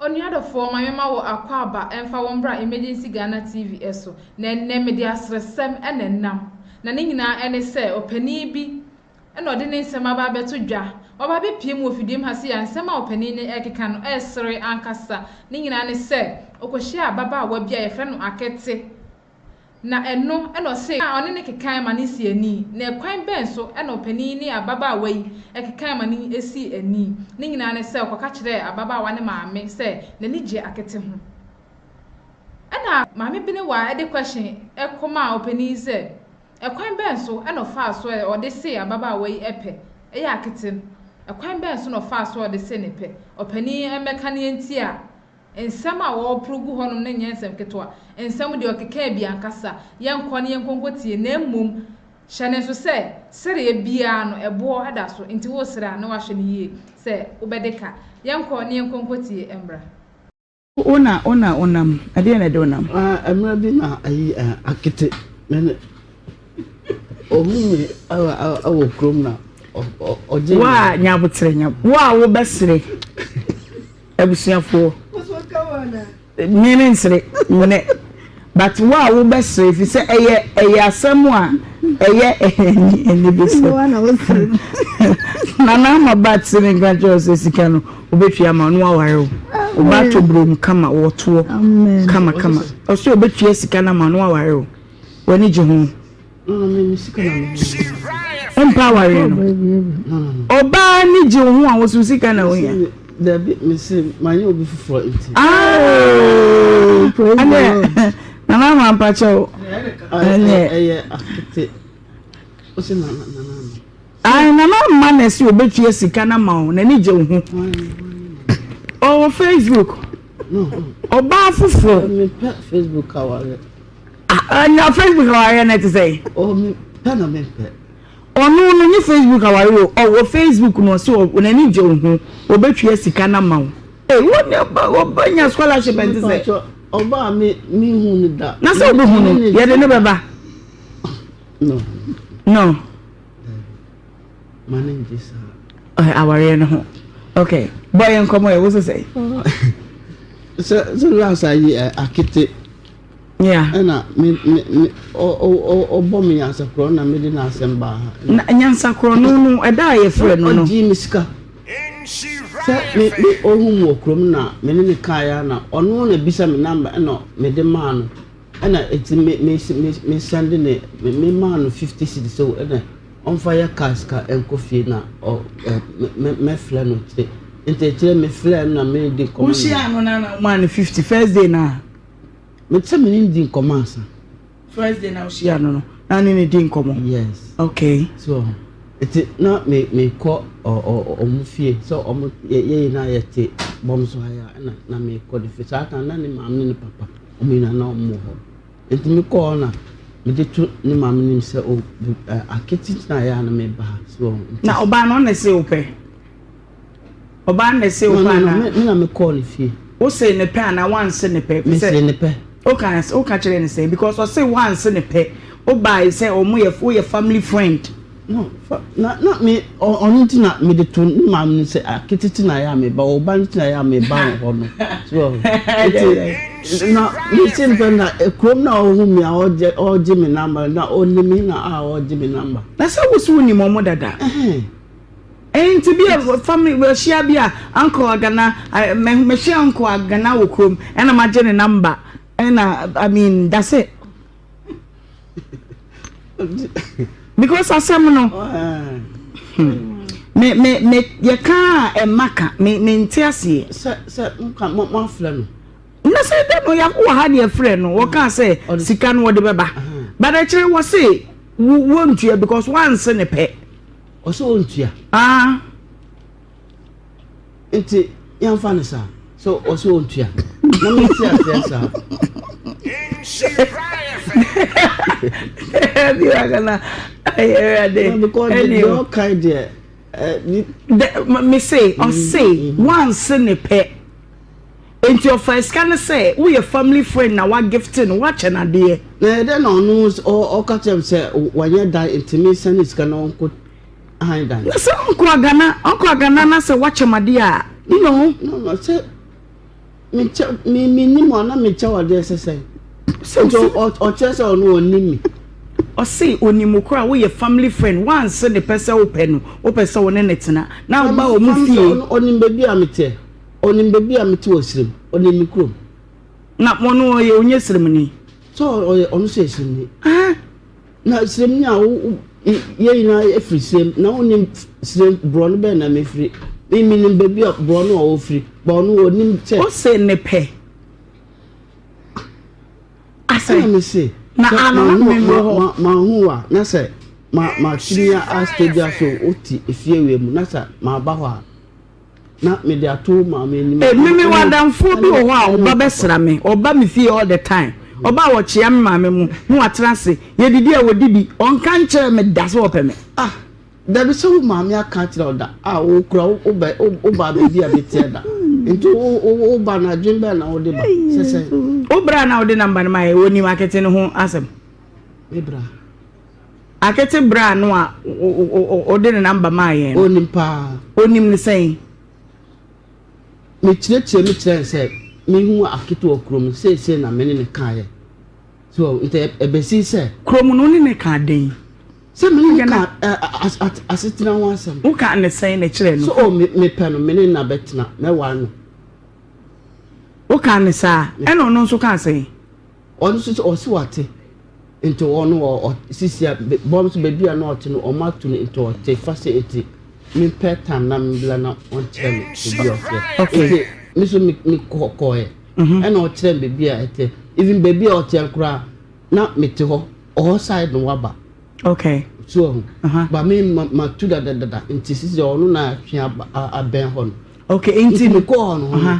Onua dɔfoɔ ma yɛma wo akwaaba ɛmfa wo mbra Emergency Ghana TV ɛso na ɛnnɛ mede aseresɛm na ɛnam na ne nyinaa ɛne sɛ ɔpanin bi na ɔde ne nsɛm aba abɛto dwa waba abɛpie mu wɔ fidiem ha sei a nsɛm a ɔpanin no ɛrekeka no ɛresere ankasa ne nyinaa ne sɛ ɔkɔhyiaa ababaawa bi a yɛfrɛ no Akete na ɛno na ɔse na ɔne no kekae ma no sii ani, na ɛkwan bɛn so na ɔpanin yi ne ababaawa yi kekae ma no sii ani? Ne nyinaa ne sɛ ɔkɔka kyerɛɛ ababaawa no maame sɛ n'ani gye akete ho. Ɛna Maame Benewa de question kɔmaa ɔpanin yi sɛ ɛkwan bɛn so na ɔfaa so a ɔde see ababaawa yi pɛ yɛ akete no? Ɛkwan bɛn so na ɔfaa so a ɔde see no pɛ? Ɔpanin yi mmɛka nea nti a. Nsɛm a wɔporo gu hɔnom no nyɛ nsɛm ketewa. Nsɛm deɛ, ɔkeka bi ankasa. Yɛnkɔ na yɛnkɔnkɔtie, na mmom hyɛ no nso sɛ, sereɛ biara no, ɛboɔ da so. Enti woresere a, na woahwɛ no yie sɛ wobɛde ka. Yɛnkɔ na yɛnkɔnkɔtie mmra. Ona, ona, onam. Ɛdeɛn na ɛde onam? Ah, mmerɛ bi na ayi akete me ne ɔhu me wɔ kurom na ɔgye me. Wo a nyaboterɛ, nyaboterɛ. Wo a wobɛsere. Abusuafoɔ, me me nsere nnɛ but wo a wo bɛ sere fi sɛ ɛyɛ ɛyɛ asɛm a ɛyɛ ɛni ɛni bi sɛ nana ama ba ti ne nka kyerɛ sɛ sika no obetua ma ɔno aware o ɔba ato burom kama wɔtoɔ kama kama ɔsɛ obetua sika na ma ɔno aware o w'ani gye ho. ɔmpa awareɛ no ɔbaa ne gye wo ho a woso sika na wohia dabi mese manyɛ obi foforɔ nti ɛnɛ nana ama mpakyɛ wo ɛnɛ ɛyɛ akete wosɛ nana nana ayi nana ama na ɛsɛ obetua sika na ma wo n'ani gye wo ho ɔwɔ facebook ɔbaa foforɔ mepɛ facebook awareɛ Ah na Facebook awareɛ no te sɛ. Oh me pɛ na me pɛ. Ɔno no nye Facebook awareɛ o ɔwɔ Facebook no ɔsi ɔ n'ani gye o ho ɔbɛtua sika na ma o. Ee wo ne ɔba ɔba nya scholarship ɛnte sɛ. Mepatwa ɔba a me me hu ne da. Na sɛ ɔbɛ hu no yɛde ne bɛba. No. No. Mane ngye saa. Awareɛ no ho. Okay bɔ yɛ nkɔmɔ yɛ wo sɛ sɛ. Sɛ sɛ last ayi akete. Yeah. Ɛna me me me o o o ɔbɔ me nyansakorɔ na mede n'asɛm baa ha. Na nyansakorɔ no no ɛda a yɛfrɛ no no. Ɔgye me sika. Sɛ me me ɔhu mu wɔ kurom na me ne ne kaa ya na ɔno na bisa me namba ɛna mede maa no ɛna eti me me me me sɛnde ne me me maa no fifty cedi sɛ ɛna ɔnfa yɛ kaa sika ɛnkɔ fie na ɔ ɛ me me filɛ no kyerɛ nti kyerɛ me filɛ no na me di nkɔmɔ. Wohyia no na na ɔmaa no fifty first day na. Me te me ne no di nkɔmɔ ansa. First day na wohyia no no, na ne ne di nkɔmɔ? Yes. Okay. So, eti na me me kɔ ɔmo fie sɛ ɔmo yɛ yɛ na yɛ te bɔm so ha ya na na me kɔ de fi saa kan na ne maame ne ne papa ɔmo nyinaa na ɔmo wɔ hɔ. Eti me kɔɔ na me de to ne maame nim sɛ o aketi na yɛ na me ba so. Na ɔbaa no ɔna se o pɛ. Ɔbaa no na ɛsee wo pɛ anaa? Me na me kɔɔ ne fie. Wo see ne pɛ anaa wanse ne pɛ? Me see ne pɛ. Wo ka wo ka kyerɛ ne sɛ because ɔse wanse ne pɛ. Wo baa yi sɛ ɔmo yɛ wo yɛ family friend. No fa na na me ɔno ti na me de to ne maame no sɛ akete ti na yɛ a me ba ɔba no ti na yɛ a me ba wɔ hɔ no. So eti na me se ne pɛ na kurom na ɔhu me a ɔgye ɔgye me number na ɔnim na a ɔgye me number. Na sɛ wo so wo nim ɔmo dada. Ɛhɛn. Enti bi a family wɔahyia bi a uncle agana mɛhyia uncle agana wɔ kurom ɛna magye ne number ɛna I mean that's it because asɛm no me me me yɛka a ɛma ka me me nte aseɛ sɛ sɛ nka mo mo afrɛ no na sɛ dɛ no yɛako wɔ ha deɛ frɛ no wɔka sɛ sika no wɔde bɛba badakyerɛ wɔ se wɔntua because wɔanse ne pɛ Ɔsɛ ɔntua. Aa nti yɛmfa no saa sɛ ɔsɛ ɔntua na mete aseɛ saa biwakana ayɛwurade ɛneo ɔkae deɛ mese ɔse wanse ne pɛ Enti ɔfaa sika no sɛ woyɛ family friend na wa gifte no woakyɛ no adeɛ. Na ɛyɛ dɛn na ɔno ɔka kyerɛ me sɛ wanyɛ dan nti me nsa ne sika no ɔnkɔ han dan. Na sɛ ɔnkɔ agana ɔnkɔ agana na sɛ woakyɛ me adeɛ a you know. No no sɛ me kyɛ me me nim a na me kyɛ wo adeɛ sɛ sɛn. Sɛ nti ɔkyerɛ sɛ ɔno ɔnim me. Ɔse ɔnim wo koraa woyɛ family friend woanse ne pɛ sɛ wopɛ no wopɛ sɛ wo ne no tena na woba wɔn fie. Ɔnim baabi a me teɛ. Ɔnim baabi a mete wɔ serem, ɔnim me kurom. Na ɔno ɔyɛ ɔnyɛ seremni? Sɛ ɔyɛ ɔno sɛ seremni. Ah, na seremni a wo yɛ nyinaa efiri serem na ɔnim serem borɔ no bɛn na mefiri. Me menim baabi a borɔ no a ɔfiri ba ɔno ɔnim sɛ. Ɔsɛ ne pɛ. Asɛ. Ɛna me se. Na ano na me wɔ hɔ. Ma ho wa na sɛ ma ma tumi a astage so ɔte efie wie mu na sɛ ma ba hɔ a. na mede ato maame anim. Eh, me me wadamfoɔ bi wɔ hɔ a ɔba bɛsra me, ɔba me fie all the time. Ɔba a wɔkyea me maame mu na watena ase, yɛdidi a wɔdi bi, ɔnka nkyerɛ me da sɛ ɔpɛ me. Ah, dabi sɛ wo maame aka akyerɛ wo da a wokura wobɛ woba baabi a meteɛ da. Nti woba no adwen bɛn na wode ba sɛ sɛ. Wobra na wode namba no ma yɛ wɔnim akete no ho asɛm. Mebra. Akete braa no a ɔde ne namba maa yɛn no. Onim paa. Onim no sɛn? Mekyerɛkyerɛ mu kyerɛ no sɛ mehu Akete wɔ kurom no, seesei na me ne no kaeɛ. So nti ɛbɛsi sɛ. Kurom no wo ne no kaa dɛn? Sɛ me ne no kaa asetena ho asɛm. Wokaa no sɛn na kyerɛ no? Sɛ o mepɛ no, me ne no na bɛtena, mɛware no. Wokaa no saa? Ɛna ɔno nso kaa sɛn? Ɔno nso sɛ ɔse wate nti ɔno wɔ sisi a bɔm nso baabi a na ɔte no ɔmo ato no nti ɔte fa se nti mempɛ tam na mebla na ɔnkyerɛ me baabi a ɔte nti me nso mekɔ kɔɛ mhm. ɛna ɔkyerɛ me baabi a ɛte even baabi a ɔte koraa na mete hɔ ɔhɔ side no waba okay so ɔho uh-huh. ba me matu dadadada nti sisi ɔno na atwe abɛn hɔ no okay nti mekɔ hɔ no uh-huh.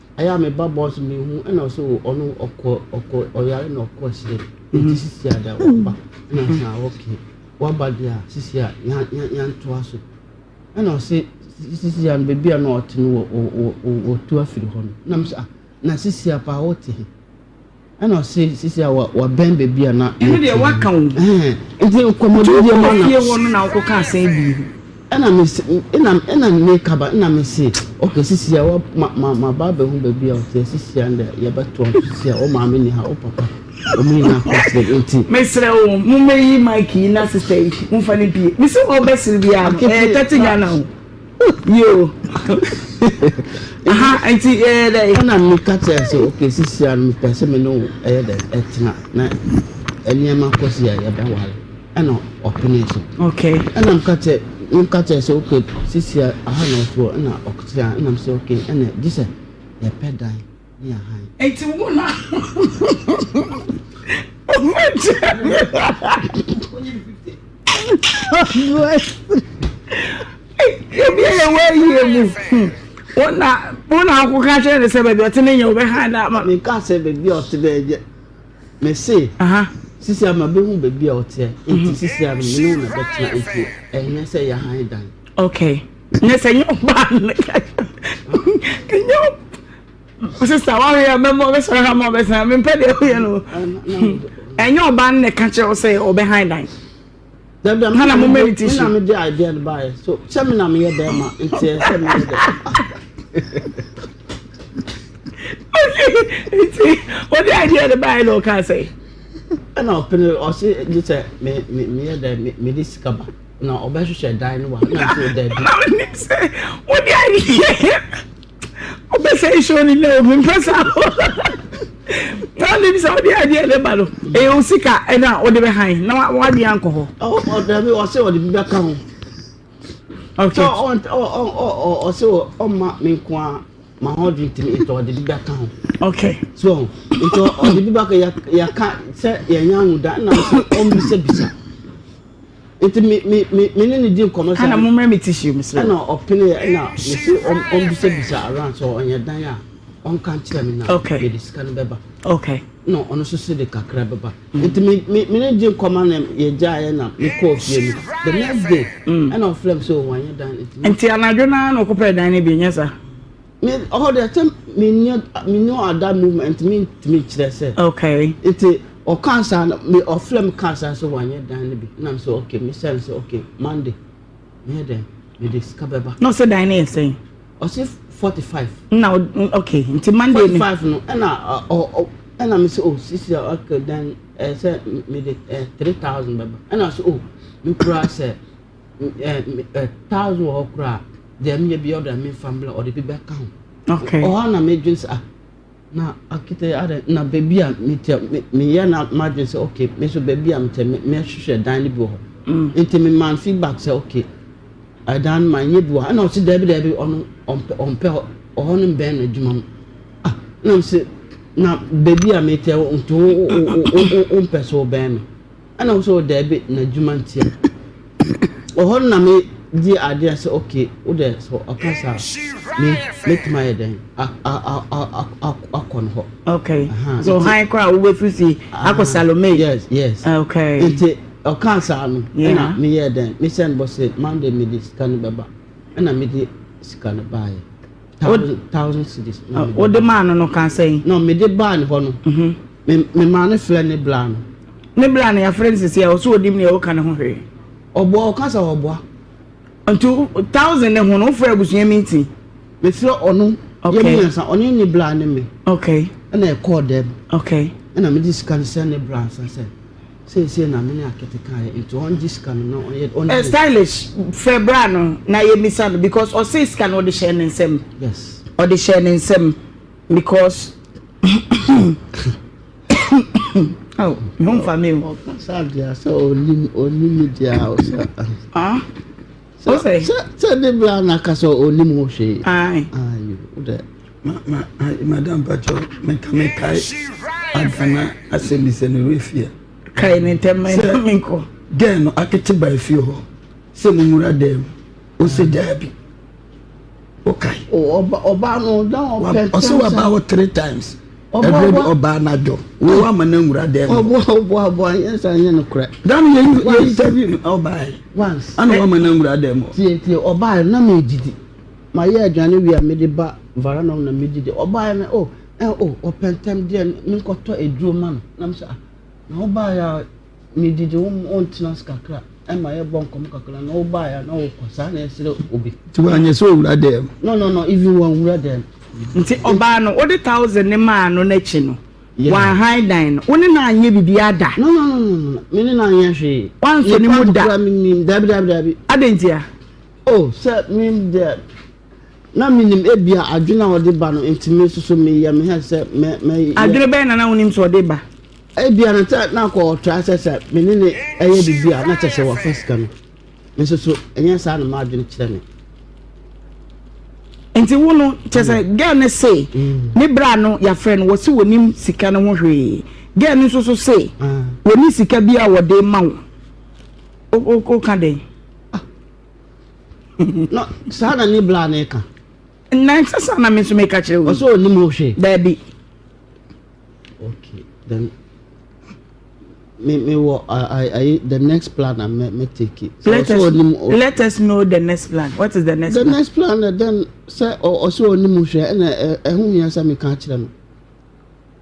Ɛyɛ a me ba bɔ so me hu ɛna ɔsɛ o ɔno ɔkɔ ɔkɔ ɔyare na ɔkɔ ahyire nti sisi ada waba ɛna ɔsɛ a ɔkè waba deɛ a sisi a yan yan yantoa so ɛna ɔsɛ sisi a beebi a na ɔte no wɔ wɔ wɔ wɔ tu afiri hɔ no nam sɛ a na sisi a paa ɔte he. Ɛna ɔse sisi a wabɛn baabi a na. Ɛno deɛ waka o. Nti nkɔmɔdi deɛ ma na. Fie hɔ no na ɔkɔ ka asɛn bi. Ɛna me se ɛna ɛna me kaba ɛna me se okay sisi a wa ma ma ma ba abɛhu baabi a ɔte sisi a ndɛ yɛbɛto ɔnso sisi a ɔmaame ni ha ɔpapa wɔn nyinaa kɔsere nti. Mesrɛ o mo mɛyi mic yi na sista yi mo nfa ne pie me se ɔbɛsere bi a ɛyɛ tɛte Ghana o. Yoo aha nti ɛyɛ dɛ. Ɛna mi ka kyerɛ sɛ oke sisi ano mi pɛ sɛ mi ne wo ɛyɛ dɛ ɛtena na nneɛma kɔ si a yɛbɛ wale ɛna ɔpene so. Okay. Ɛna mi ka kyerɛ mi ka kyerɛ sɛ oke sisi aha na ɔsoɔ ɛna ɔkyerɛ ɛna mi sɛ oke ɛna gye sɛ yɛpɛ dan. Mia han. Eti wo na. Ebi yɛ wɔ ayie mu. Wo na wo na ako ka kyerɛ ne sɛ baabi ɔte ne nyɛ wo bɛ han na ama. Meka sɛ baabi a ɔte bɛyɛ deɛ. Mese. Aha. Sisi ama bɛhu baabi a ɔteɛ. Eti sisi ama mene wo na bɛtena eti ɛnyɛ sɛ yɛ han dan. Okay. Ne sɛ nyɛ ɔbaa no nyɛ ɔbaa sista wahwɛ yɛ mɛmɔ ɔbɛsɔre ha ma ɔbɛsɛn mempɛ deɛ woyɛ no ɛnyɛ ɔbaa no na ɛka kyerɛ wo sɛ ɔbɛhan dan hana mo meditation na mede idea no baeɛ so sɛ me na meyɛ bɛrima nteɛ sɛ meyɛ dɛ nti ɔde idea no baeɛ na ɔka sɛ ɛna ɔpene ɔse gye sɛ meyɛ dɛ mede sika ba na ɔbɛhwehwɛ dan no wa na nso dabi. na ɔnim sɛ wode adeɛ ɔbɛsɛ nsuo no nɛ obi mpɛ sa na ɔnim sɛ wode adeɛ ne ba no ɛyɛ wo sika ɛno a wode bɛhan na woadeɛ ankɔ hɔ ɔdabi ɔsɛ ɔde bi bɛka ho sɛ ɔsɛ ɔma me nko a ma ho dwe ntimi nti ɔde bi bɛka ho okay so nti ɔde bi bɛka yɛka sɛ yɛnyɛ ahoda na ɔmbisabisa Nti me me me me ne ne di nkɔmɔ sɛ. Ɛna mo mmerɛ me tissue me so. Ɛna ɔpeneɛ ɛna me se ɔmbisabisa around sɛ ɔnyɛ dan a ɔnka nkyerɛ me na yɛde sika no bɛba. Okay. Na ɔno nso se de kakra bɛba. Nti me me me ne di nkɔmɔ na yɛgyaeɛ na me kɔɔ fie no the next day ɛna ɔfrɛ me sɛ o wanyɛ dan no. Nti anadwo no ara na ɔkɔpɛɛ dan no bi nyɛ saa? Me ɔhɔ deɛ sɛ menyɛ menyɛ ada movement mentumi nkyerɛ sɛ. Okay. Nti ɔka saa no me ɔfrɛ me ka saa sɛ wanyɛ dan no bi nam sɛ okay me sɛ sɛ okay Monday meyɛ dɛn mede sika bɛba. Na ɔsɛ dan no yɛ sɛn? Ɔsɛ forty five. Na okay nti Monday forty five no ɛna ɔ ɛna me sɛ oh sisi okay dan ɛsɛ mede three thousand bɛba ɛna sɛ oh me kura sɛ. thousand wɔ hɔ koraa deɛ meyɛ bi ɔde me nfa mbla ɔde bi bɛka ho okay ɔhɔ na medwen sɛ ah na akete adɛ na baabi a metɛ meyɛ na madwen sɛ okay me so baabi a metɛ mɛhwehwɛ dan no bi wɔ hɔ mm. nti me man feedback sɛ okay ɛdan no ma nyɛ bi wɔ hɔ ɛna ɔsi dɛbi dɛbi ɔno ɔmpɛ ɔmpɛ ɔhɔ no bɛn na adwuma mu ah na sɛ na baabi a metɛ nti wo wo wo wo mpɛ so bɛn no. Ɛna wo sɛ o daabi na adwuma nti a ɔhɔ no na me di adeɛ sɛ okay wo dɛ sɛ ɔka saa me mɛtumi ayɛ dɛn akɔ no hɔ okay so han koraa wobɛfiri fie akɔ salome yes yes okay nti ɔka saa no ɛna meyɛ dɛn mesɛ no bɔ sɛ monday mede sika no bɛba ɛna mede sika no baeɛ Wode thousand cedis na mede. Wode maa no no kaa sɛn? No mede baa ne hɔ no. Me me maa no frɛ ne bla no. Ne bla no yɛafrɛ no sisi a ɔsɛ onim nea ɔka ne ho hwee. Ɔboa ɔka sɛ ɔboa. Nti thousand ne ho no wofrɛ abusua meeting. Mefrɛ ɔno yɛ mmiɛnsa ɔne ne bla ne me. Okay. Ɛna ɛkɔɔ dɛm. Okay. Ɛna mede sika no sɛ ne bla nsa sɛ. Seesei na me ne Akete ka yɛ nti ɔn gye sika no na ɔnyɛ ɔnyɛ. Stylish frɛ bra no na yɛ misa no because ɔsee sika no ɔde hyɛɛ ne nsam. Yes. Ɔde hyɛɛ ne nsam because oh me ho nfa me o. Ɔka saa deɛ sɛ ɔnim ɔnim me deɛ a ɔsɛ ah. sɛ sɛ de bi a na kasa onim ho hwee ayi o dɛ. ma ma madam patro meka mekae agana asɛm bi sɛ mewɔ efie kae ne ntɛm ma ɛna menkɔ gɛɛ no akete ba efie hɔ sɛ mumura dɛm ɔsɛ daabi Okae. Oh ɔba ɔbaa no na ɔpɛ ntɛm sɛ. Ɔsɛ waba hɔ three times. Ɛbrɛ de ɔbaa na dwo. Wo wa ma na nwura dɛm. Ɔboa ɔboa ɔboa yɛn nsa yɛn no korɛ. Dami yɛ yɛ interview no ɔbaa yi. Once. Ana wa ma na nwura dɛm. Tie tie ɔbaa yi na mi didi. Ma yɛ aduane wi a mi de ba vara na na mi didi. Ɔbaa yi na oh ɛ oh ɔpɛ ntɛm deɛ mi nkɔtɔ aduro ma no. Na mi sɛ ah na ɔbaa yi a. me didi wo mu ɔntena ase kakra ɛma yɛ bɔ nkɔm kakra na wo baa ya na wo kɔ saa na ɛsrɛ obi. ti wa nyɛ sɛ owura dɛm. no no no even wɔn wura dɛm. nti ɔbaa no wode thousand ne maa no n'akyi no wɔn han dan no wo ne na anyɛ bibi ada. no no no no no me ne na anyɛ hwee. wɔn nso ne mu da. ne paa kura mi mi dabi dabi dabi. adantia. oh sɛ mi dɛ. Na minim ebia adwene a ɔde ba no nti me nso so meyɛ me hɛ sɛ mɛ mɛ. Adwene bɛyɛ na na wonim sɛ ɔde ba. Ebia na sɛ na akɔ ɔtra sɛ sɛ me ne ne ɛyɛ biribi a na kyɛ sɛ wafa sika no me nso so ɛnyɛ saa na maa adwene kyerɛ me. nti wo no kyɛ sɛ mm. girl no se mm. ne bra no yɛafrɛ no wɔse wɔnim sika no ho hwee girl no nso so se ah. wɔne sika bi a wɔde ma wo woka dɛn ah. na saa na ne bla ne ka na ɛsɛ saa na me nso meka kyerɛ wo ɔsɛ ɔnim wo hwɛ daabi okay then me me wɔ ayi the next plan na me me take it so ɔsɛ ɔnim wo let us know the next plan what is the next the plan the next plan na then sɛ ɔsɛ ɔnim wo hwɛ ɛna ɛho hia sɛ meka kyerɛ no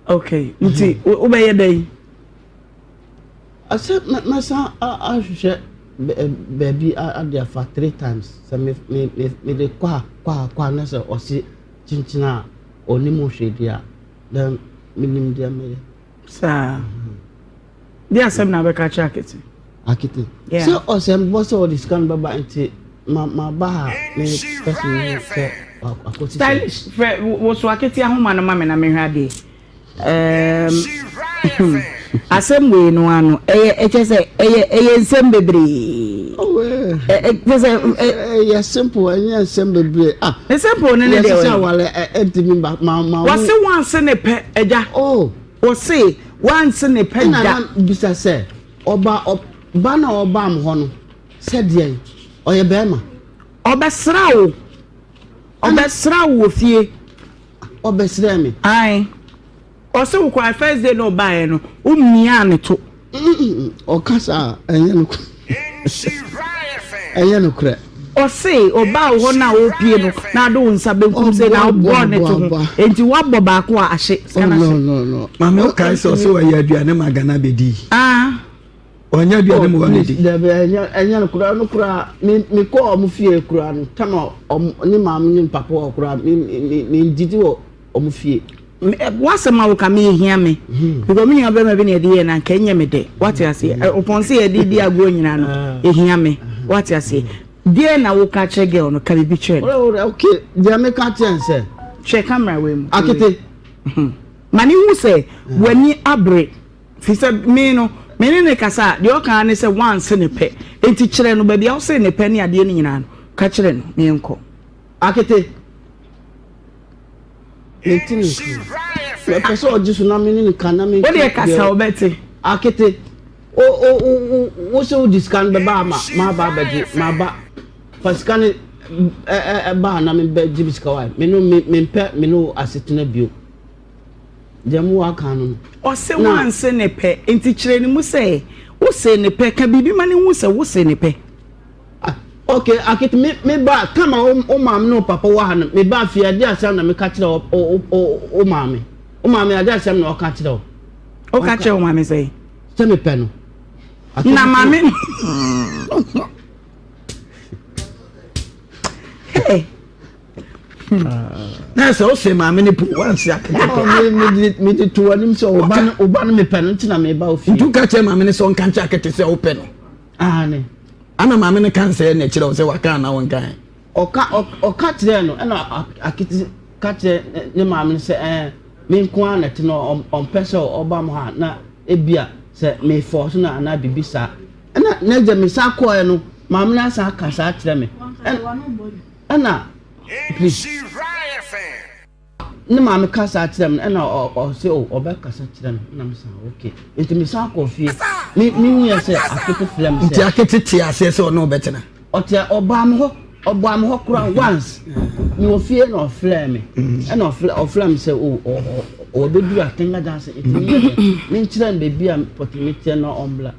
Okay, nti wobɛyɛ dɛn? Ase mɛsan ahwehwɛ baabi ade afa three times sɛ me me me me de kɔ a kɔ a kɔ a na sɛ ɔse kyenkyen a ɔnim hwee deɛ a then menim deɛ mɛyɛ. Saa. de asɛm na abɛka kyerɛ akete akete sɛ ɔsɛm bɔ sɛ ɔde sika no bɛba nti ma ma ba ha ne kasi ne sɛ akɔsi stylish fɛ woso akete ahoma no ma me na mehwɛ adeɛ ɛɛm asɛm wei no ano ɛyɛ ɛkyɛ sɛ ɛyɛ ɛyɛ nsɛm bebree ɛkyɛ sɛ ɛyɛ simple ɛnyɛ nsɛm bebree ah simple no ne deɛ wɔyɛ yɛsɛ sɛ awale ɛntumi ba ma ma wɔse wɔn ase ne pɛ ɛgya oh Ose wanse ne pɛ da. Ɛna na bisa sɛ ɔba ɔba na ɔbaa mo hɔ no sɛ deɛn? Ɔyɛ bɛɛma? Ɔbɛsraa wo? Ɔbɛsraa wo wɔ fie? Ɔbɛsrɛɛ me. Ae. Ɔse wo kɔae first day na ɔbaaɛ no wo miaa ne to. Ɔkasa a ɛnyɛ nokorɛ. Ɛnyɛ nokorɛ. Ɔse ɔbaa wo hɔ no a ɔrepie no na ade wo nsa benkum sei na wobɔɔ ne to ho enti woabɔ baako a ahye sika no ahye. No no no. Maame wokae sɛ ɔse ɔyɛ aduane ma Ghana bedi. Ah. Ɔnyɛ aduane ma wɔn adi. Dabi ɛnyɛ ɛnyɛ no kura no kura me me kɔ ɔmo fie kura no tama ɔmo ne maame ne papa wɔ kura me me me ndidi wɔ. wɔn fie. w'asɛm a woka me ehia me hmm. because me nua bɛrima bi na ɛde yɛ na nka ɛnyɛ me dɛ wate aseɛ hmm. ɔpɔn sɛ yɛde di agorɔ nyinaa no ehia me wate aseɛ deɛ na woka kyerɛ girl no ka biribi kyerɛ no. ok deɛ meka kyerɛ n sɛ. hwɛ kamera wei mu. akete. Hmm. ma ne hu sɛ w'ani abere fi sɛ me no me ne ne kasa deɛ ɔka ne sɛ wanse ne pɛ eti kyerɛ no baabi a wose ne pɛ ne adeɛ no nyinaa no ka kyerɛ no ne yɛn kɔ. akete. mete ne nkyɛn mɛpɛ sɛ ɔgye so na me ne no ka na me wode ɛkasa wobɛte akete wo sɛ wode sika no bɛba ama maaba abɛgye maaba fa sika no ɛbaa na mebɛgye me sika wa me no mempɛ me no asetena bio deɛ mo waka no no ɔse wanse ne pɛ nti kyerɛ ne mu sɛ wose ne pɛ ka biribi ma ne hu sɛ wose ne pɛ Okay, Akit, me me ba kama wo wo maame ne wo papa wɔ ha no, me ba fie ade asɛm na meka kyerɛ wo wo wo maame. Wo maame ade asɛm na ɔka kyerɛ wo. Ɔka kyerɛ wo maame sɛ? Sɛ mepɛ no. Na maame no. Hey. na sɛ wose maame no po wanse akete mede to anim sɛ woba no mepɛ no nti na meba wo fie nti woka kyerɛ maame no sɛ ɔnka nkyɛ akete sɛ wopɛ no Aane. Ɛna maame no kan sɛɛ na ɛkyerɛ wo sɛ waka anaa wɔnkaɛ? Ɔka, ɔka kyerɛɛ no, ɛna Akiti ka kyerɛ ne maame no sɛ ɛɛ, me nko ara na ɛte no, ɔmpɛ sɛ ɔba mo ha na ebia sɛ mefɔɔ so no anaa biribi saa. Ɛna n'agya me san kɔɔɛ no, maame no asan aka saa kyerɛ me. Ɛna, please. Ne maame ka saa kyerɛ me ɛna ɔse o ɔbɛkasa kyerɛ me na mesa ok nti mesan kɔ fie me mehu yɛ sɛ akete frɛ me sɛ nti akete te aseɛ sɛ ɔne ɔbɛtena ɔte ɔbaa me hɔ ɔbaa me hɔ kora once me wɔ fie na ɔfrɛ me ɛna ɔfrɛ me sɛ o ɔbɛduru atenga danse ɛtumi menkyerɛ no baabi a pɔtumi teɛ na ɔmbla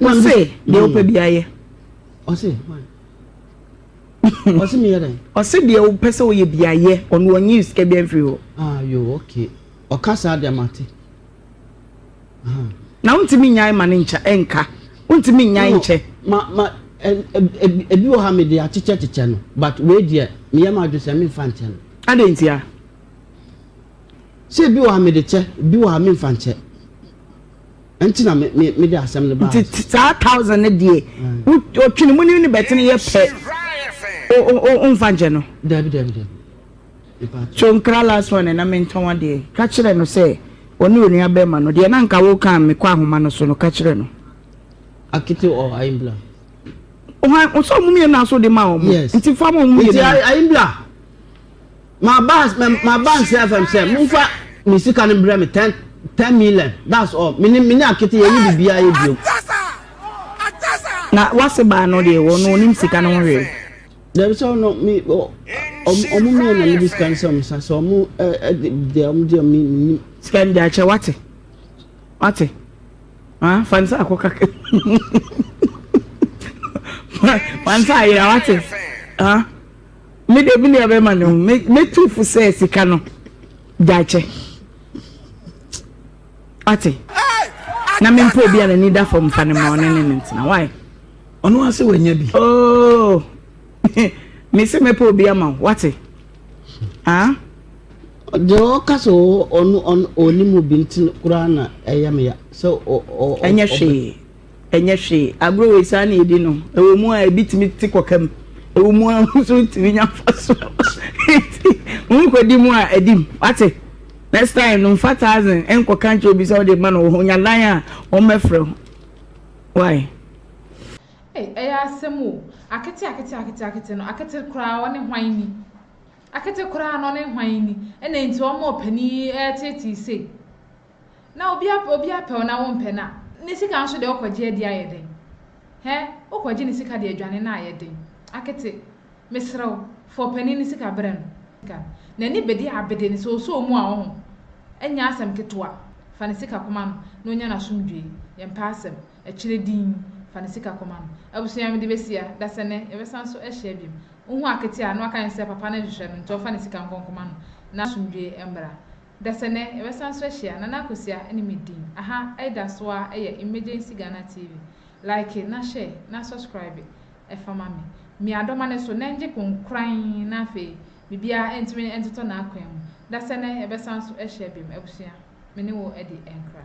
Ɔse deɛ wopɛ bi ayɛ. Ɔse why? Ɔse meyɛ dɛn? Ɔse deɛ wopɛ sɛ woyɛ bi ayɛ ɔno ɔnyi sika bi amfiri hɔ. Ah yo okay ɔka saa deɛ mate. Na wontumi nyae ma ne nkyɛ ɛnka wontumi nyae nkyɛ. Ma ma ebi wɔ ha mede akyekyɛ kyekyɛ no but wei deɛ meyɛ m'adwene sɛ memfa nkyɛ no. Adɛn ntia? Sɛ ebi wɔ ha mede kyɛ ebi wɔ ha memfa nkyɛ. Nti na me me me de asɛm no baa. Nti saa thousand no deɛ. Wo otwene mu ne ne bɛtene yɛ pɛ. O o o onfa nkyɛ no. Dabi dabi dabi. So nkra last one na me ntɔn adeɛ. Ka kyerɛ no sɛ ɔne onua bɛɛma no deɛ na nka wo kan me kɔ ahoma no so no ka kyerɛ no. Akete or ayimbla. Ohan ɔsɛ ɔmo mmienu na so de ma ɔmo. Yes. Nti fa ma ɔmo mmienu. Nti ayimbla. Maba maba nse FM sɛ momfa me sika no brɛ me ten ten million that's all me ne me ne akete yɛ ne bibia yɛ bio. Na wase baa no deɛ wɔ no onim sika no ho hwee. Dabi sɛ ɔno me ɔmo me na me de sika no sɛ ɔmo sa sɛ ɔmo ɛde deɛ ɔmo deɛ ɔmo nim. Sika no de akyɛ wate wate ah fansa akɔ kaka fansa ayira wate ah. Me de me nua bɛma no me me tu fo sɛ sika no gyakyɛ ate na me mpo obi a n'ani da fam fa ne ma ɔne ne ne ntena why ɔno ase wanya bi oh me se mɛpɛ obi ama wo wate ah deɛ ɔka sɛ ɔno ɔnim obi nti koraa na ɛyɛ me ya sɛ ɛnyɛ hwee Ɛnyɛ hwee. Agorɔ wei saa na yɛdi no. Ɛwɔ mu ara a, ebi tumi te kɔka mu. Ɛwɔ mu ara nso wotumi nya mfasoɔ wɔ so. Enti worekɔdi mu a, di mu. Woate? Next time no, mfa thousand nkɔka nkyerɛ obi sɛ wode rema no wɔ hɔ. Nya dan a, wɔmmɛfrɛ wo. Why? Ei, ɛyɛ asɛm o. Akete, akete, akete, akete no, akete koraa ɔne hwan ni? Akete koraa no, ɔne hwan ni? Ɛna enti ɔma ɔpanin yi reteetee sei? na obi apɛ obi apɛ wo na wo mpɛ no a ne sika nso deɛ wo kɔgye adi ayɛ den hɛ wo kɔgye ne sika deɛ adwane no ayɛ den akete mesrɛ wo fa ɔpanin no sika brɛ no sika no n'ani bedi abede no sɛ ɔsɔ mu a wo ho ɛnyɛ asɛm ketewa fa ne sika kɔma no na ɔnya n'asomdwoe yɛ mpɛ asɛm akyire dinn fa ne sika kɔma no abusua mede bɛsia dasɛnɛ yɛbɛsan so ahyia biom wo hu akete a na waka ne sɛ papa no nhwehwɛ no nti ɔmfa ne sika nkɔ nkɔma no na asomdwoe mmra Dasɛ nɛ yɛbɛsan so ahyia Nana Akosua ne me din aha Ɛda so ara ɛyɛ Emergency Ghana TV Like na share na subscribe ɛfa ma me Mia dɔma ne so nɛ ngye konkoran na afei biribiara ɛntumi ɛntotɔ n'akwan mu Dasɛ nɛ yɛbɛsan so ahyia biom Abusua me ne wo ɛdi ɛnkra.